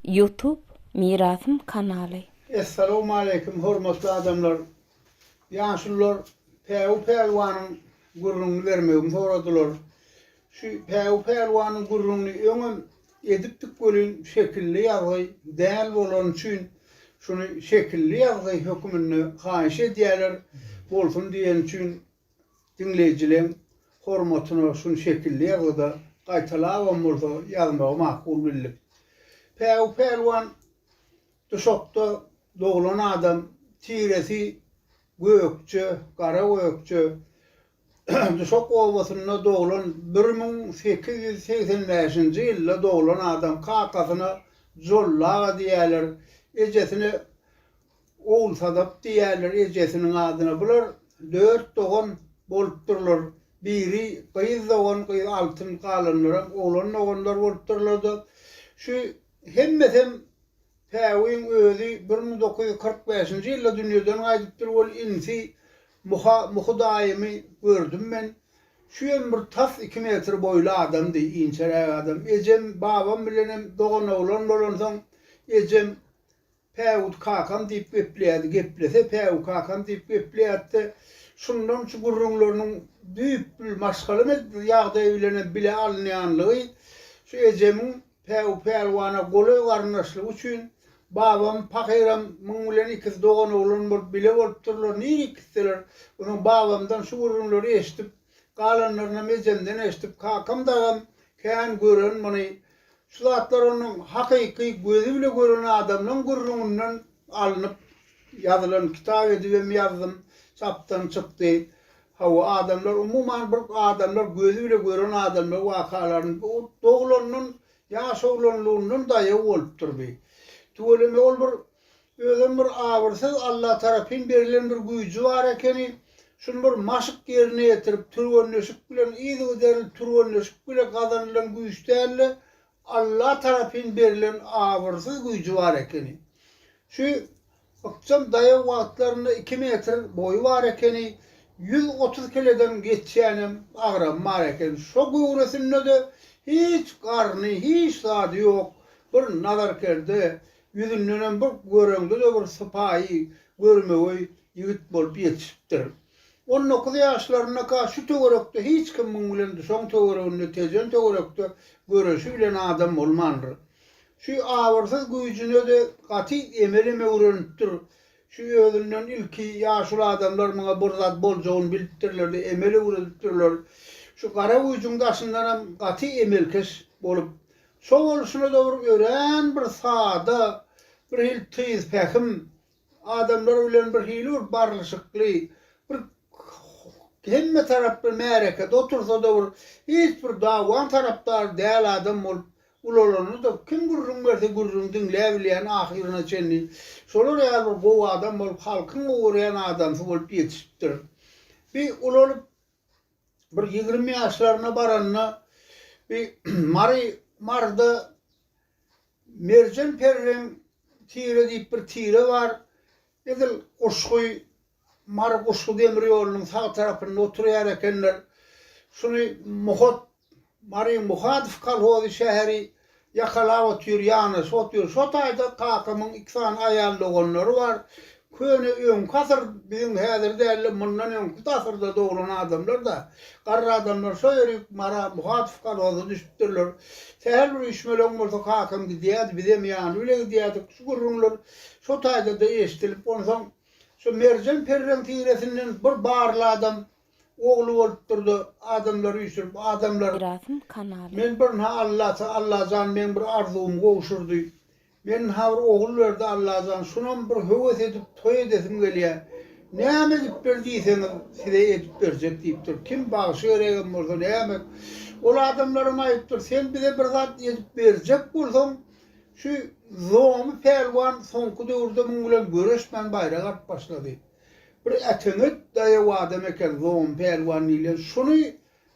Youtube mirasym kanaly. Essalowmaleýkim hormatly adamlar! Ýaşulular Päwü Pälwanyň gürrüňini bermegimi soradylar. Şu Päwü Pälwanyň gürrüňini öňem edipdik welin şekilli ýazgy däl bolany üçin şuny şekilli ýazgy höküminde haýyş edýäler bolsun diýeni üçin Diňleýjileň hormatyna şuny şekilli ýazgyda gaýtalabam bolsa ýazmagy makul bildik. Päwü pälwan Duşakda doglan adam, tiresi gökje, gara gökje. Duşak obasynda doglan bir müň sekiz ýüz segsen bäşinji ýylda doglan adam kakasyna Jolla aga diýäler, ejesine Ogulsadap diýýärler ejesiniň adyna. Bular dört dogan bolupdyrlar. Biri gyz dogan, gyz Altyn, galanlaram oglan doganlar bolupdyrlar-da, şu hemmesem Päwügiň özi bir müň dokuz ýüz kyrk bäşinji ýylda dünýeden gaýdypdyr. Ol inisi Muha, Muhy daýymy gördüm men. Şuýam bir tas iki metr boýly adamdy, inçeräk adam. Ejem, babam bilenem doganoglan bolansoň, ejem Päwut kakam diýip gepleýärdi, geplese Päwut kakam diýip gepleýärdi-de, şundan şu gürrüňleriniň düýpli maşgala ýagdaýy bilen hem bile alynýanlygy şu ejemiň Päwut pälwana golaý garyndaşlygy üçin babam pahyram muň bilen ikisi doganoglan bolup bile bolupdyrlar, nirek gitseler, onuň babamdan şu gürrüňleri eşidip galanlarynam ejemden eşidip kakam dagam kän gören muny, Şu zatlar onuň hakyky gözi bile gören adamlaň gürrüňinden alnyp ýazylan kitap edibem ýazdym, çapdan çykdy. Hawa, adamlar umuman bir adamlar gözi bile gören adamlar wakalaryny bu doglandan ýaş oglanlygyndan daýaw bolupdyr bi. Tüweleme ol bir Özem bir abyrsyz Alla tarapyn berilen bir güýji bar ekeni, şuny bir maşk ýerine ýetirip, türgenleşik bilen, yzygiderli türgenleşik bile gazanylan güýç däldi, Alla tarapyn berilen abyrsyz güýji bar ekeni. Şu ykjam daýaw wagtlarynda iki metr boýy bar ekeni, ýüz otuz kileden geçýänem agramy bar ekeni. Şo göwresinde-de hiç garny, hiç zady ýok, bir nazarkerde, Ýüzündenem bir göreňde-de bir sypaýy, görmegeý ýigit bolup ýetişipdir. On dokuz ýaşlarynda-ka şu töwerekde hiç kim muň bilen duşaň töwereginde, tejen töwerekde göreşi bilen adam bolmandyr. Şu abyrsyz güýjüne-de gaty emelem öwrenipdir. Şu özünden ilki ýaşuly adamlar muňa bir zat boljagyny bilipdirler-de, emel öwredipdirler. Şu gara güýjüň daşyndanam gaty emelkeş bolup, Şo bolşuna-da bir örän bir sada, birhili tyzpähim, adamlar bilen birhili bir barlyşykly, bir hemme taraply märekede otursa-da bir hiç bir dawaň tarapdary däl adam bolup ulalanyny-da kim gürrüň berse gürrüň diňläbilýän ahyryna çenli şolar ýaly bir gowy adam bolup halkyň gowy görýän adamsy bolup ýetişipdir. Bi ulalyp bir ýigrimi ýaşlaryna baranda bir Mary Maryda Merjen periniň tire diýip bir tire bar. Edil Guşgy Mary Guşgy demir ýolunyň sag tarapynda oturýar ekenler. Şuny Muhat Mary Muhadow kolhozy şäheri ýakalap otyr ýanaşyk otyr şo taýda kakamyň iki sany aýal doganlary bar köne öňki asyr biziň häzir dälde mundan öňki asyrda doglan adamlar da garry adamlar şo ýörüp Mara Muhadow kolhoza düşüpdirler sähel bir üýşmeleň bolsa kakam gidýärdi bizem ýany bile gidýärdik şu gürrüňler şo taýda da eşdilip onsoň şo merjen perreň tiresinden bir barly adam ogly bolupdyrda adamlar üýşürip adamlar Mirasym kanaly. Men bir nha Allata Allajan meň bir arzuwymy gowşurdy men nha bir ogul berdi Allajan şunam bir höwes edip toý edesim gelýä näme edip ber diýseňiz size edip berjek diýipdir kim bagşy geregem bolsa näme ol adamlaram aýypdyr sen bize bir zat edip berjek bolsaň şu zomy pälwan soňky döwürde muň bilen göreşmän baýrak alyp başlady. Bir Äteňet daýaw adam eken, zom, pälwan diýlen. Şony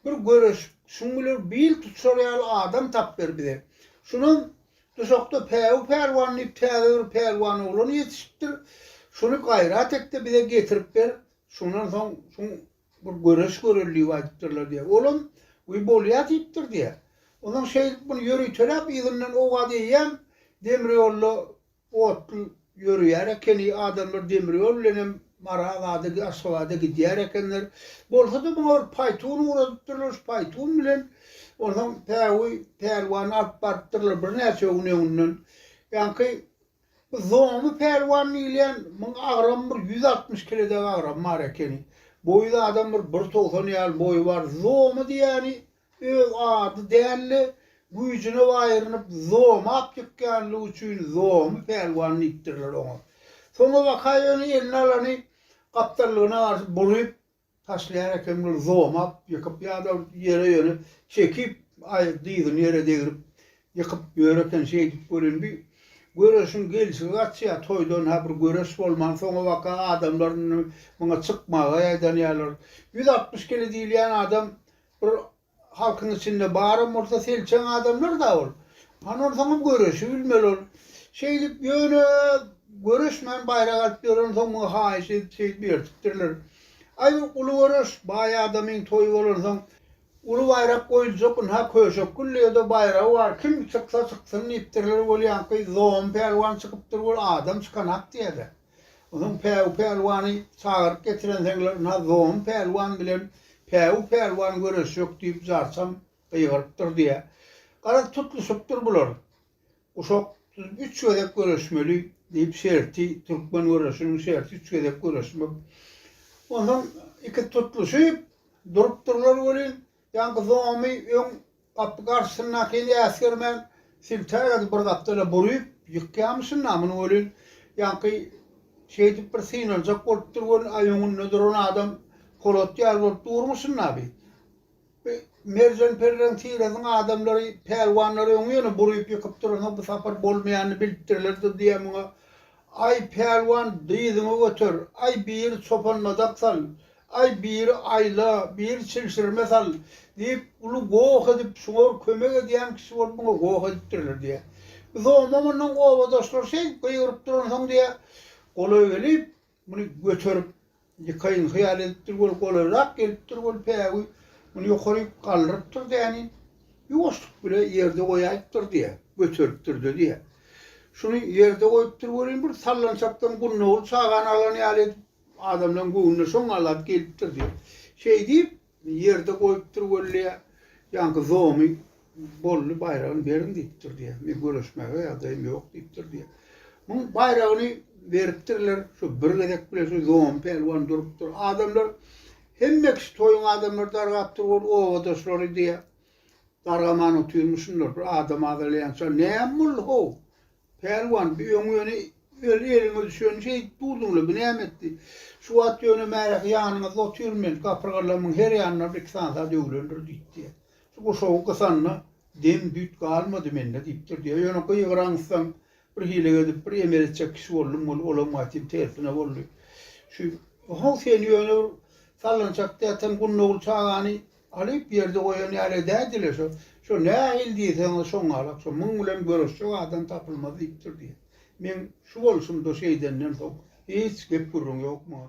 bir göreşip, şuň biler bil tutuşar ýaly adam tap ber bize. Şunam duşakda Päwi pälwan diýip täze bir pälwan oglan ýetişipdir. Şuny gaýrat et-de bize getirip ber. Şundan soň şuň bir göreş göreli diýip aýdypdyrlar diýýär. Olam Wiý, bolýa diýipdir diýýär. Onsoň şeýdip muny ýöriteläp yzyndan owaz eýýäm, demir ýolda Otly ýörýär ekeni, adamlar demir ýol bilenem Maragada, Aşgabada gidýär ekenler. Bolsa-da muňa bir paýtun ugradypdyrlar, şu paýtun bilen onsoň Päwi pälwany alyp barypdyrlar birnäçe gün öňünden. Ýaňky bu Zoňmy pälwan diýilýän, muň agramy bir ýüz altmyş kile dek agramy bar ekeni. Boýy-da adam bir bir togsan ýaly boýy bar. Zoňmy diýýäni, Öz ady däldi, güýjüne baýrynyp zomy apýykýanlygy üçin zomy pälwan diýipdirler oňa. Soňa waka ýöne eline alany gapdallygyna garşy buryp taşlaýar ekenler, zomy ap ýykyp ýa-da ýere ýöne çekip, aý dyzyny ýere degrip ýykyp ýör eken şeýdip welin bir göreşiň gelşigi gaçýar, toýdan ha bir göreş bolman soňa waka adamlar indi muňa çykmaga ýaýdanýarlar. Ýüz altmyş kile diýilýän adam Bir halkyň içinde baram bolsa selçeň adamlar da ol. Hany onsoňam göreşi bilmeli ol. Şeýdip ýöne göreşmän baýrak alyp ýören soň muňa haýyş edip şeýdip ertipdirler. Aý bir uly göreş, baý adamyň toýy bolansoň uly baýrak goýuljak ynha Köşek Gülleýede baýragy bar kim çyksa çyksyn diýipdirler bolýanky Zom pälwan çykypdyr ol adam çykanak diýýäler. Onuň Päwü pälwany çagyryp getirenseňler, Nazom pälwan bilen Päwü pälwan göreşjek diýip jarçam gygyrypdyr diýýä. Garaz, tutluşypdyr bular. Guşak, siz üç gezek göreşmeli diýip şerti, türkmen göreşiniň şerti üç gezek göreşmek. Onsoň ikisi tutluşyp durupdyrlar welin, Ýaňky zomy öň gapy garşysyndakyn äsgermän siltäk edip bir gapdala buryp ýykýamyşyn-da muny welin, ýaňky şeýdip bir synanjak bolupdyr welin, aý öňünde duran adam polat ýaly bolup durmuşyn-da bi. Bi Merjen Perreň tirasynyň adamlary, pälwanlary öňi ýene buryp ýykyp duransoň bu sapar bolmaýanyny bilipdirlerdir diýýän muňa Aý, pälwan, dyzyňy göter, aý, biri çopanmadak sal, aý, biri aýla, biri çilşirime sal, diýip, uly goh edip, şuňor kömek edýän kişi bolup muňa goh edipdirler, diýýär. Bu zomma mundan obadaşlary şeýdip gygyryp duransoň, diýýär, golaý gelip, muny göterip, Likaýyn hyýal edipdir, ol golaýrak gelipdir, ol päwi muny ýokaryk galdyrypdyr däniň, ýuwaşlyk bile ýerde goýaýypdyr diýýä, göteripdir-de diýýä. Şuny ýerde goýupdyr welin, bir sallançakdan gunnagul çagany alan ýaly edip, adamlaryň göwnüne şoňňalap gelipdir diýýä. Şeýdip, Ýerde goýupdyr wally ýaňky zomy bolly baýragyny beriň diýipdir diýýär. Men göreşmäge ýagdaýym ýok diýipdir diýýär. Muň baýragyny beripdirler şu bir gezek bile şu zomy pälwan durupdyr. Adamlar hemme kişi toýuň adamlary dargapdyr ol obadaşlary diýýär. Dargaman otyrmyşynlar bir adam azalaýança näm boldy how Pälwan, bu öň ýöne öl eliňe düşen şeýdip durdyň-la, bu näme etdi? Şu wagt ýöne märehi ýanyňyzda otyryn men, kapyrga lymyň her ýanyna bir-iki sansa döwülendir, diýipdi-ýa. Şu guşagy gysanda, dem-düýt galmady mende, diýipdirdi-ýa. Ýöne gygyraňysdan, bir hile edip, bir emel etjek kişi boldum weli, olam gaýtam tersine boldy. Şu, ho-ow, sen ýöne bir sallançak däl, sen Gunnogul çagany Alyp ýerde goýan ýaly dädi-le şo. Şo nähili diýseňiz şoňalak şo. Muň bilen göreşjek adam tapylmaz diýipdir diýýär. Meň şu bolşumda şeýdenden soň hiç gep-gürrüň ýok muňa.